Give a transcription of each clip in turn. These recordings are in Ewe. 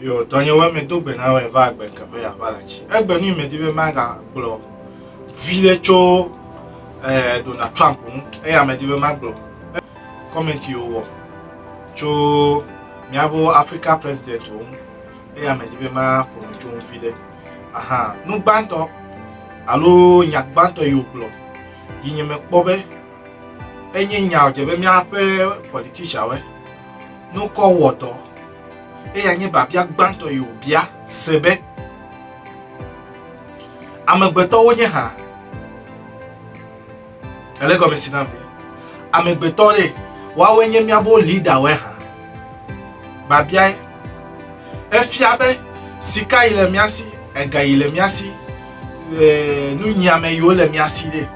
Yo, tɔnye wɔ me do gbe na wɔ va agbe ke be yava la tsi. Egbe nu me di be ma ga gblɔ vi le tso eh Donald Trump nu. Eya me di be ma gblɔ. Comment yo wɔ tso miabo Africa president wo. Eya me di be ma pono tso vi le. Aha, nu gbantɔ alo nya gbantɔ yo gblɔ. Yinye me kpɔ be enye nya o je be miaƒe politician we. nukɔ wɔ dɔ. Eya nye biabia gbãtɔ yi wòbia se be, Amegbetɔ wonye hã? Ele gɔme si nam be, amegbetɔ ɖe, woawoe nye míaƒe lidawoe hã? Biabiae. Efia be sika yi le mía si, ega yi le mía si, nunyiame yi wole mía si ɖe.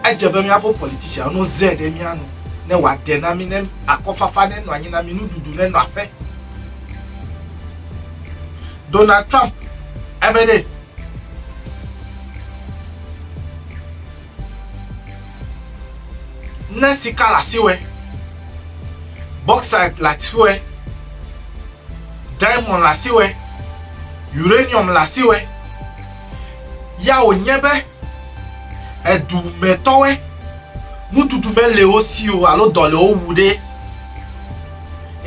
Edze be míaƒo politicianwo no ze ɖe mía nu ne wòaɖe na mí ne akɔfafa nenɔ anyi na mí, nuɖuɖu nenɔ aƒe. Donald Trump ebe ɖe. Ne sika le asiwɔe, bauxite le asiwɔe, diamond le asiwɔe, uranium le asiwɔe, ya wònye be. edu me tɔwɔe, nuɖuɖu mele wo si o alo dɔ le wo wu ɖe,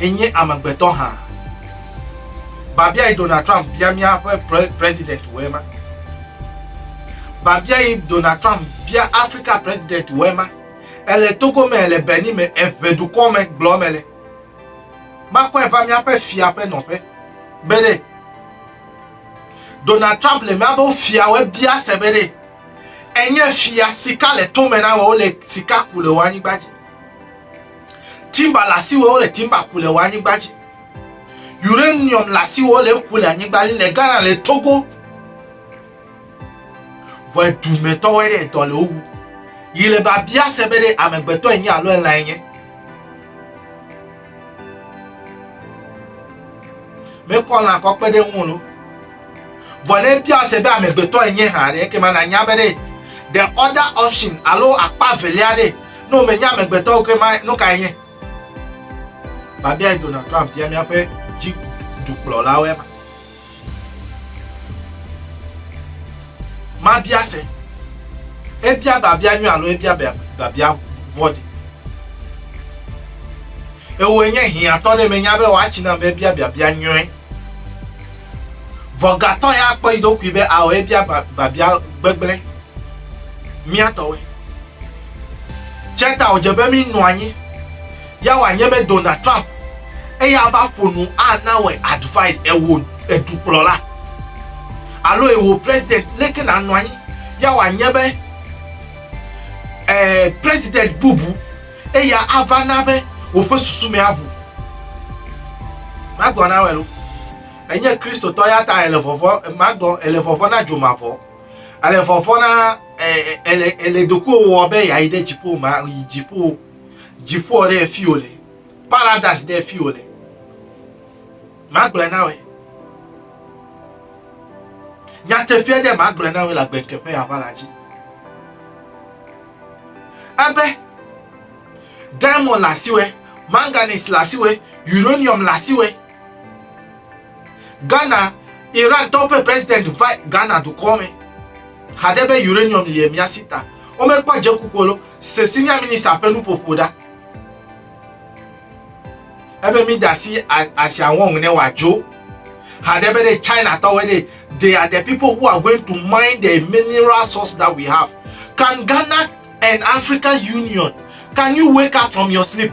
enye amegbetɔ hã. Babiae Donald Trump bia míaƒe president wòe ma. Babiae Donald Trump bia Afrika president wòe ma. Ele Togo me, le Benin me, eʋe dukɔ me gblɔ mele. Makɔe va míaƒe fia ƒe nɔƒe. Gbeɖe. Donald Trump le míaƒe fiawo bia se be ɖe enye fia sika le tome na wòle sika ku le wò anyigba dzi. Timba le asiwò wòle timba ku le wò anyigba dzi. Uranium le asiwò wòle ku le anyigba dzi le Ghana le Togo. Vɔ edumetɔwoe ɖe dɔ le wo wu. Yi le babia se be ɖe amegbetɔ enye alo elãe nye. mekɔ lã kɔ kpe ɖe ŋu lo vɔ ne ebia se be amegbetɔ enye hã ɖe ekema nanya be ɖe the other option alo akpa velia ɖe ne womenya amegbetɔ ekema nu kae nye babia donald trump bia míaƒe dzi dukplɔlawoe ma Mabia se. Ebia babia nyui alo ebia babia vɔ̃ɖi. Ewoe nye hiãtɔ ɖe menya be woatsi nam be ebia biabia nyui. Vɔgatɔ ya akpɔ yi ɖokui be ao ebia babia gbegblẽ. Mía tɔwoe. Tsia ta wòdze be mínɔ anyi Ya wòanye be Donald Trump eya va ƒo nu ana wòe advise ewò edukplɔla alo ewò president leke nànɔ anyi. Ya wòanye be e president bubu eya ava na be wòƒe susu me aʋu. Magblɔ na wòe lo. Enye Kristotɔ ya ta ele vɔvɔ, magblɔ, ele vɔvɔ na dzomavɔ. Ele vɔvɔ na, e, e, ele, ele dokuwo wɔ be yeayi ɖe dziƒo, ma, yi dziƒo. Dziƒoa ɖe fi wòle. Paradise ɖe fi wòle. Magblẽ na wòe. Nyateƒea ɖe magblẽ na wòe le agbenke ƒe aʋa la dzi. Ebe diamond le asiwɔe, manganese le asiwɔe, uranium le asiwɔe. Ghana, Iran tɔwo ƒe president va Ghana dukɔ me haɖe be uranium lie mía si ta. Womekpɔ dzeku kolo se senior minister ƒe nuƒoƒo ɖa. Ebe mi da si asia wɔŋ ne wòadzo. Haɖe be ɖe China tɔwoe ɖe they are the people who are going to mine the mineral source that we have. Can Ghana and African Union, can you wake up from your sleep?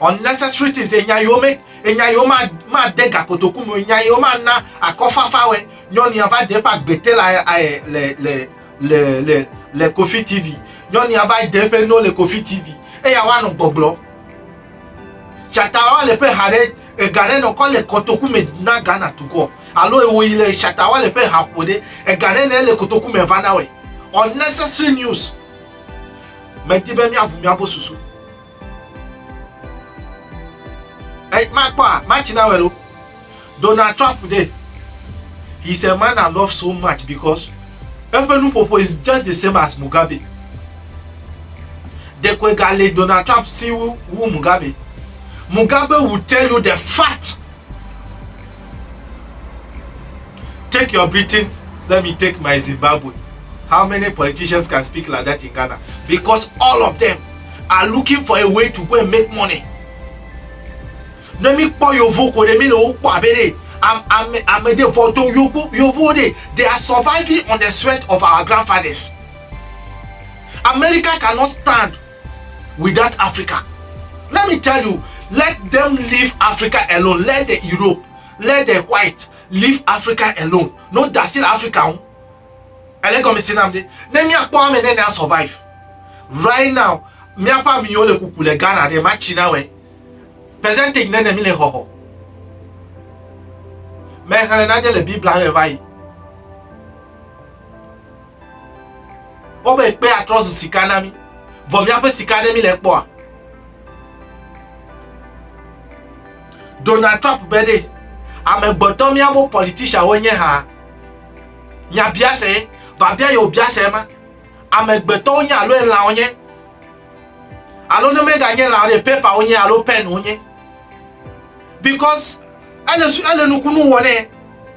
unnecessary things enya yiwo me enya yiwo ma ma de gakotoku me enya yiwo ma na akɔfafa wɛ nyɔnu ya va de eƒe agbete le aye le le le le le kofi tv nyɔnu ya va de eƒe no le kofi tv eya wa nɔ gbɔgblɔ shatalawa le ƒe ha ɖe ega ɖe nɔ kɔ le kotoku me na ghana tukɔ alo ewo yi le shatalawa le ƒe ha ƒo ɖe ega ɖe ne le kotoku me va na wɛ unnecessary news Medi be míaʋu míaƒe susu. Ey, makpɔa, matsi na wɛlo. Donald Trump ɖe. He's a man I love so much because eƒe nuƒoƒo is just the same as Mugabe. Ɖekoe gale Donald Trump si wu Mugabe. Mugabe will tell you the fact. Take your Britain, let me take my Zimbabwe. How many politicians can speak like that in Ghana? Because all of them are looking for a way to go and make money. Ne mi kpɔ yovo ko ɖe mi le wo kpɔ abe ɖe ame ame ɖe vɔ do yovo yovo ɖe they are surviving on the sweat of our grandfathers. America cannot stand without Africa. Let me tell you, let them leave Africa alone. Let the Europe, let the white leave Africa alone. No dasi le Africa ŋu. Ele gɔme si nam de. Ne míakpɔ ame ne na survive. Right now, míaƒe amiwo le kuku le Ghana ɖe matsi na wɛ. Percentage ne ne mi le xɔxɔ. Mexlẽ nane le Biblia me va yi. Wobe kpe atrɔ zu sika na mí, vɔ míaƒe sika aɖe míle kpɔa? Donald Trump be ɖe amegbetɔ míawo politician wonye hã? Nya biase, babia yewo biase ma. Amegbetɔwo nye alo elã wonye? Alo ne meganye lã ɖe paper wonye alo pen wonye? Because ele, ele nukunu wɔ nɛ.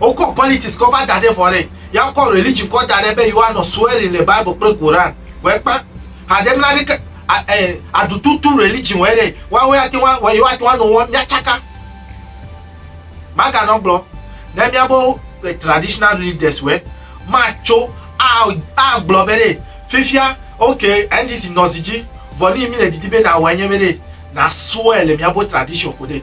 Wokɔ politics kɔ va da ɖe vɔ ɖe. Ya wokɔ religion kɔ da ɖe be yewoanɔ swearing le Bible kple Koran. Wòe kpa. Haɖe mla ɖe ke aɖututu religion wòe ɖe. Woawoe ate ŋu yewoate ŋu anɔ wɔm míatsaka. Maganɔ gblɔ ne míabe traditional leaders wòe matso agblɔ be ɖe fifia ok NDC nɔ zi dzi vɔ nuyi mí le didi be nàwɔe nye be ɖe nà swear le míabe tradition ko ɖe.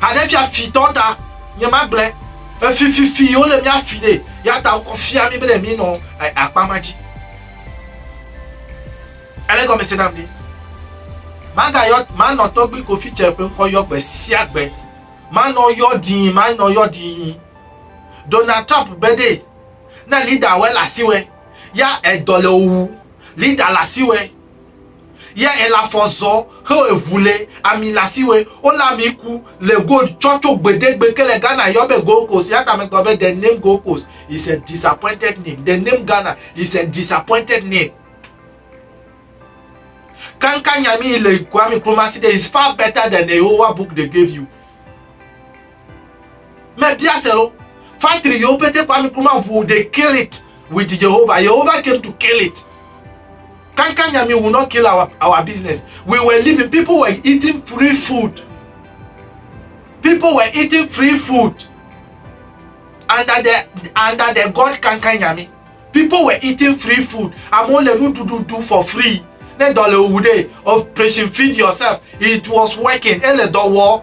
Haɖe fia fitɔ ta nye ma gblẽ efififi yo le mia fi ɖe ya ta wokɔ fia mi bene mi nɔ akpa ma dzi ele gɔme se nam ɖi ma ga yɔ ma nɔ tɔgbi kofi tse ƒe ŋkɔ yɔ gbe sia gbe ma nɔ yɔ dii ma nɔ yɔ dii Donald Trump be ɖe na lida wɛ la si wɛ ya edɔ le owu lida la si wɛ yɛ èle afɔ zɔ xeo eŋu le ami le asiwe wole ami ku le gold tsɔ tso gbedegbe ke le Ghana yɔ be Gold Coast ya ta megblɔ be the name Gold Coast is a disappointed name the name Ghana is a disappointed name kankan nyami le Kwame Nkrumah si de is far better than the Yehowa book they gave you Mebia se lo. Factory yewo pete Kwame Nkrumah ŋu they kill it with Jehovah. Jehovah came to kill it. Kankan Nyami will not kill our, our business. We were living, people were eating free food. People were eating free food under the under the God Kankan Nyami. People were eating free food. Amewo le nuɖuɖu ɖu for free. Ne dɔ le owu ɖe, operation feed yourself. It was working. Ele dɔ wɔ.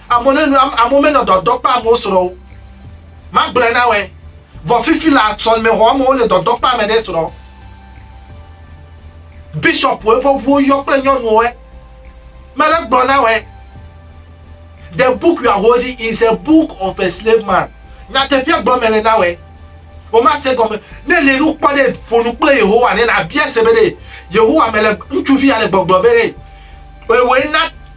Amewo ne nu, amewo menɔ dɔdɔ kpa amewo srɔ̃ o. Magblɔe na wòe, vɔ fifi la sɔlemexɔ amewo le dɔdɔ kpa ame ɖe srɔ̃. Bishɔpuwo ƒe ʋuwo yɔ kple nyɔnuwoe. Mele gblɔ na wòe, The book you are holding is a book of a slave man. Nyateƒea gblɔ mele na wòe. Womase gɔme. Ne èle nu kpɔ ɖe, ƒo nu kple Yehowa ne nàbia se be ɖe Yehowa mele, ŋutsuvi ya le gbɔgblɔ be ɖe wòe na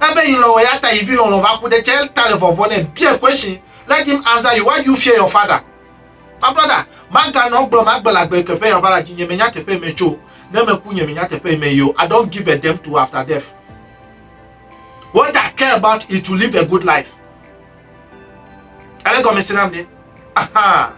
Ebe yi lɔlɔ ya ta yi vi lɔlɔ va ku ɖe tsɛ ta le vɔvɔ nɛ biɛ question let him answer you why do you fear your father my brother maganɔ gblɔ magbe la gbe teƒe ya va la dzi nye menya teƒe yi me tso ne me ku nye menya teƒe yi me yo I don't give a damn to after death what I care about is to live a good life Ale gɔme se nam ɖe. Aha.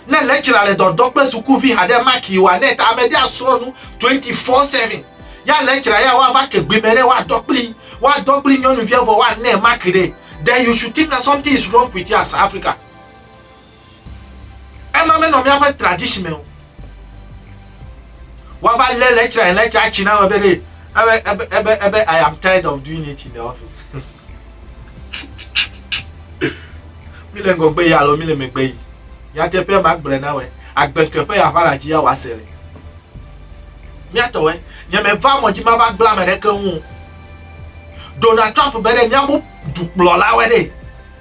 Ne lecturer le dɔdɔ kple sukuvi haɖe maki o ane ta ame ɖe asrɔ̃ nu 24/7. Ya lecturer ya woava ke gbe me ɖe woadɔ kpli woadɔ kpli nyɔnuvia vɔ woanɛ maki ɖe. Then you should think that something is wrong with us Africa. Ema menɔ míaƒe tradition me o. Woava lé lecturer and lecturer atsi na ebe ɖe ebe ebe ebe ebe I am tired of doing it in the office. Mi le ŋgɔgbe yi alo mi le megbe yi. Nyateƒe ma gblɔe na wɔ agbe ke ƒe ya ƒe aladzi ya wòase le. Míatɔ wɔ nye meva mɔ dzi mava gblẽ ame ɖeke ŋu. Donald Trump be ɖe míabu dukplɔlawe ɖe.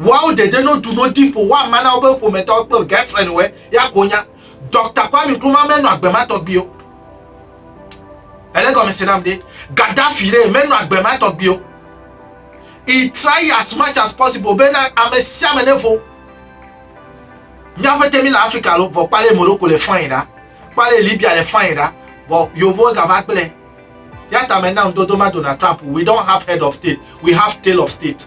Woawo dede no du no di ƒo woama na woƒe ƒometɔwo kple girlfriendwoe ya ko nya. Dɔkta Kwame Nkrumah menɔ agbe ma tɔgbi o. Ele gɔmese nam ɖe. Gaddafi ɖe menɔ agbe ma tɔgbi o. He try as much as possible bena ame sia ame nevo. Míaƒe temi le Afrika lo vɔ kpale Morocco le fine ɖa. Kpale Libya le fine ɖa vɔ yovowo gava gblẽ. Ya ta me nam dodo ma Donald Trump we don't have head of state we have tail of state.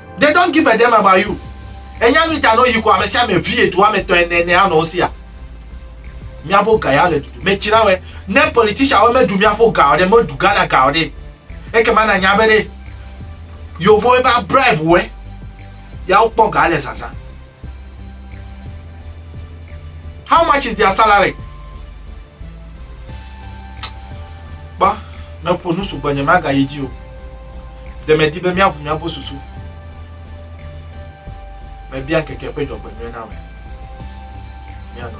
They don't give a damn about you Ènya nu ta nɔ yi ko amesiame vie du ame tɔ ene ene anɔ wosia Miabo ga ya le dudu me tsi na wɛ Ne politician wɛ me du miapo ga ɔɖe me du Ghana ga ɔɖe Eke ma na nya be ɖe Yovo wɛ ba bribe wɛ ya wo kpɔ ga le zazã. How much is their salary? Ba, me po nusu gbenye ma ga yiji o. De me di be mia vumia bo susu. Me bia keke pe jogbe mia na we. Mia no.